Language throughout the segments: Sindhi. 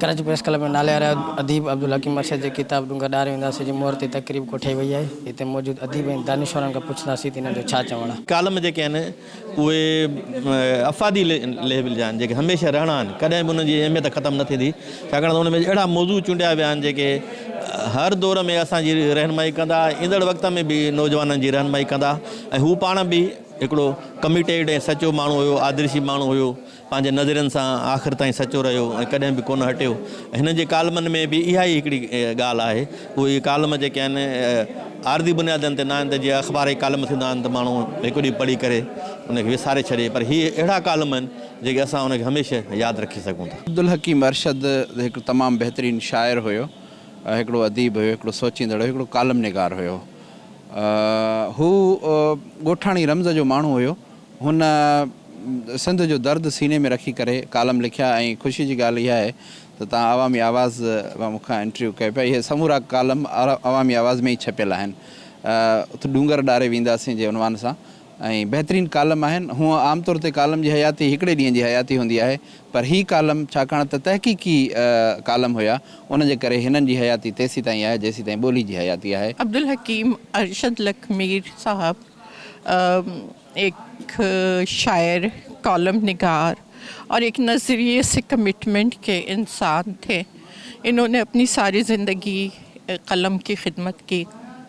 ڪراچي پريس ڪلب ۾ نالياري اديب عبدالحڪيم ارشد جي ڪتاب ڏونگر ڏاري وينداسين جي مهر تي تقريب ڪوٺائي وئي آهي، هتي موجود اديب ۽ دانشورن کان پڇنداسين ته انهن جو ڇا چوڻ آهي. ڪالم جيڪي آهن اهي افادي ليول جا آهن جيڪي هميشه رهڻا آهن ڪڏهن به انهن جي اهميت ختم نه ٿيندي ڇاڪاڻ ته ان ۾ اهڙا موضوع چونڊيا ويا آهن جيڪي هر دور ۾ اسان جي رهنمائي ڪندا ايندڙ وقت ۾ به نوجوانن جي رهنمائي ڪندا ۽ هو پاڻ به هڪڙو ڪميٽيڊ ۽ سچو ماڻهو هيو، آدرشي ماڻهو هيو، پنهنجي نظرين سان آخر تائين سچو رهيو ۽ ڪڏهن به ڪونه هٽيو. هن جي ڪالمن ۾ به اها ئي هڪڙي ڳالهه آهي. اهي ڪالم جيڪي آهن عارضي بنيادن تي نه آهن ته جيئن اخبار جي ڪالم ٿيندا آهن ته ماڻهو هڪ ڏينهن پڙهي ڪري ان کي وساري ڇڏي پر هي اهڙا ڪالم آهن جيڪي اسان ان کي هميشه ياد رکي سگهون ٿا. عبدالحڪيم ارشد هڪڙو تمام بهترين شاعر هيو، هڪڙو اديب هيو، هڪڙو سوچيندڙ هيو، هڪڙو ڪالم نگار هيو. هو ڳوٺاڻي رمز جو ماڻهو هيو. هن سنڌ جو درد سيني ۾ رکي ڪري ڪالم لکيا ۽ خوشي جي ڳالهه اها آهي ته تان عوامي آواز مان مون کان انٽرويو ڪيو پيا. اهي سمورا ڪالم عوامي آواز ۾ ئي ڇپيل آهن. اٿ ڏونگر ڏاري وينداسين جي عنوان سان ۽ بهترين ڪالم آهن. هونء عام طور تي ڪالم جي حياتي هڪڙي ڏينهن جي حياتي هوندي آهي پر هي ڪالم ڇاڪاڻ ته تحقيقي ڪالم هيا ان جي ڪري هنن جي حياتي تيسيتائين آهي جيسيتائين ٻولي جي حياتي آهي. عبدالحڪيم ارشد لک مير صاحب هڪ شاعر، ڪالم نگار اور هڪ نظريي سي ڪمٽمنٽ ڪي انسان ٿي انهون ني اپني ساري زندگي قلم ڪي خدمت ڪي.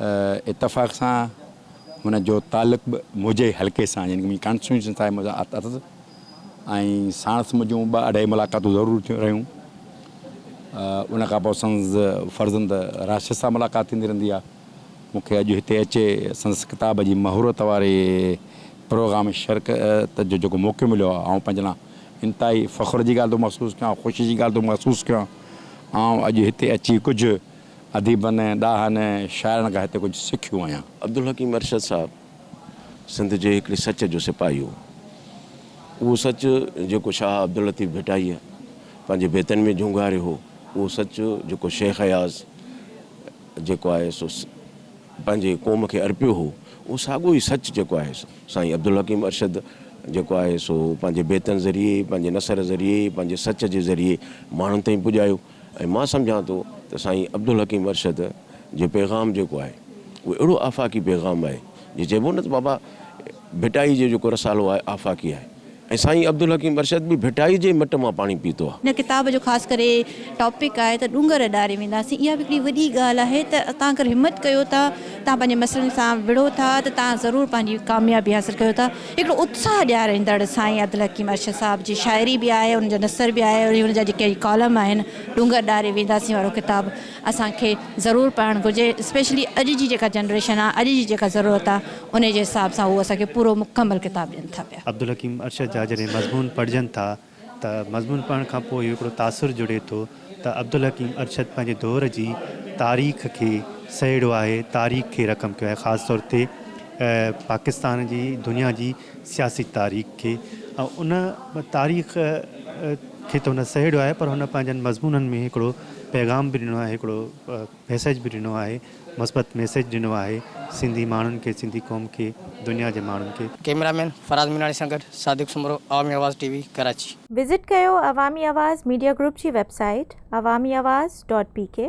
اتفاق سان هن جو تعلق به منهنجي حلقي سان يعني منهنجي ڪانسٽيٽيوشن سان مذاحت اٿس ۽ ساڻس منهنجون ٻه اڍائي ملاقاتون ضرور ٿيون رهيون ان کان پوء سندس فرزند راشد سان ملاقات ٿيندي رهندي آ مونکي اڄ هتي اچي سندس ڪتاب جي مهورت واري پروگرام شرڪت جو جيڪو موقعو مليو آ آئون پنهنجي لاء انتهائي فخر جي ڳالهه ٿو محسوس ڪيان خوشي جي ڳالهه ٿو محسوس ڪيان آئون اڄ هتي اچي ڪجهه اديبن ۽ ڏاهن ۽ شاعرن کان هتي ڪجهه سکيو آهيان. عبدالحڪيم ارشد صاحب سنڌ جي هڪڙي سچ جو سپاهي هو. اهو سچ جيڪو شاهه عبداللطيف ڀٽائيء پنهنجي بيتن ۾ جهونگاريو هو، اهو سچ جيڪو شيخ اياز جيڪو آهي سو پنهنجي قوم کي ارپيو هو، اهو ساڳيو ئي سچ جيڪو آهي سو سائين عبدالحڪيم ارشد جيڪو آهي سو پنهنجي بيتن ذريعي، پنهنجي نثر ذريعي، پنهنجي سچ جي ذريعي ماڻهن تائين پڄايو. ۽ مان سمجهان ٿو ته سائين عبدالحڪيم ارشد جو پيغام جيڪو آهي اهو اهڙو آفاقي پيغام آهي جي چئبو نه ته بابا ڀٽائي جو جيڪو رسالو آهي آفاقي آهي ۽ سائين عبدالحڪيم ارشد به ڀٽائي جي ئي مٽ مان پاڻي پيتو آهي. هن ڪتاب جو خاص ڪري ٽاپڪ آهي ته ڏونگر ڏاري وينداسين اها به هڪڙي وڏي ڳالهه آهي ته توهان اگر همت ڪيو ٿا توهان پنهنجي مسئلن سان وڙهو ٿا ته توهان ضرور پنهنجي ڪاميابي حاصل ڪيو ٿا. هڪڙو اتساهه ڏياريندڙ سائين عدل حڪيم ارشد صاحب جي شاعري به آهي ان جو نثر به آهي ۽ ان جا جيڪي ڪالم آهن ڏونگر ڏاري وينداسين وارو ڪتاب اسان کي ضرور پڙهڻ گهرجي اسپيشلي اڄ جي جيڪا جنريشن آهي اڄ جي جيڪا ضرورت آهي ان جي حساب سان هو اسان کي پورو مڪمل ڪتاب ڏين ٿا پيا. عبدالحڪيم ارشد جا جڏهن مضمون پڙهجن ٿا ته مضمون پڙهڻ کان پوء هڪڙو تاثر جڙي ٿو ته عبدالحڪيم ارشد پنهنجي دور جي تاريخ کي سهيڙيو آهي، تاريخ کي رقم ڪيو آهي، خاص طور تي پاڪستان جي دنيا جي سياسي تاريخ کي ۽ ان تاريخ کي ته هن سهيڙيو آهي پر هن پنهنجن مضمونن ۾ هڪڙو پيغام به ڏنو آهي، هڪڙو. ميسيج به ڏنو آهي مثبت ميسيج ڏنو آهي سنڌي ماڻهن کي سنڌي قوم کي دنيا جي ماڻهن کي. ڪيميرا مين فراز ميناڻي سان گڏ Sadiq Soomro Awami Awaz T V Karachi. Visit ڪيو عوامي آواز ميڊيا گروپ جي website Awami Awaz dot P ڪي.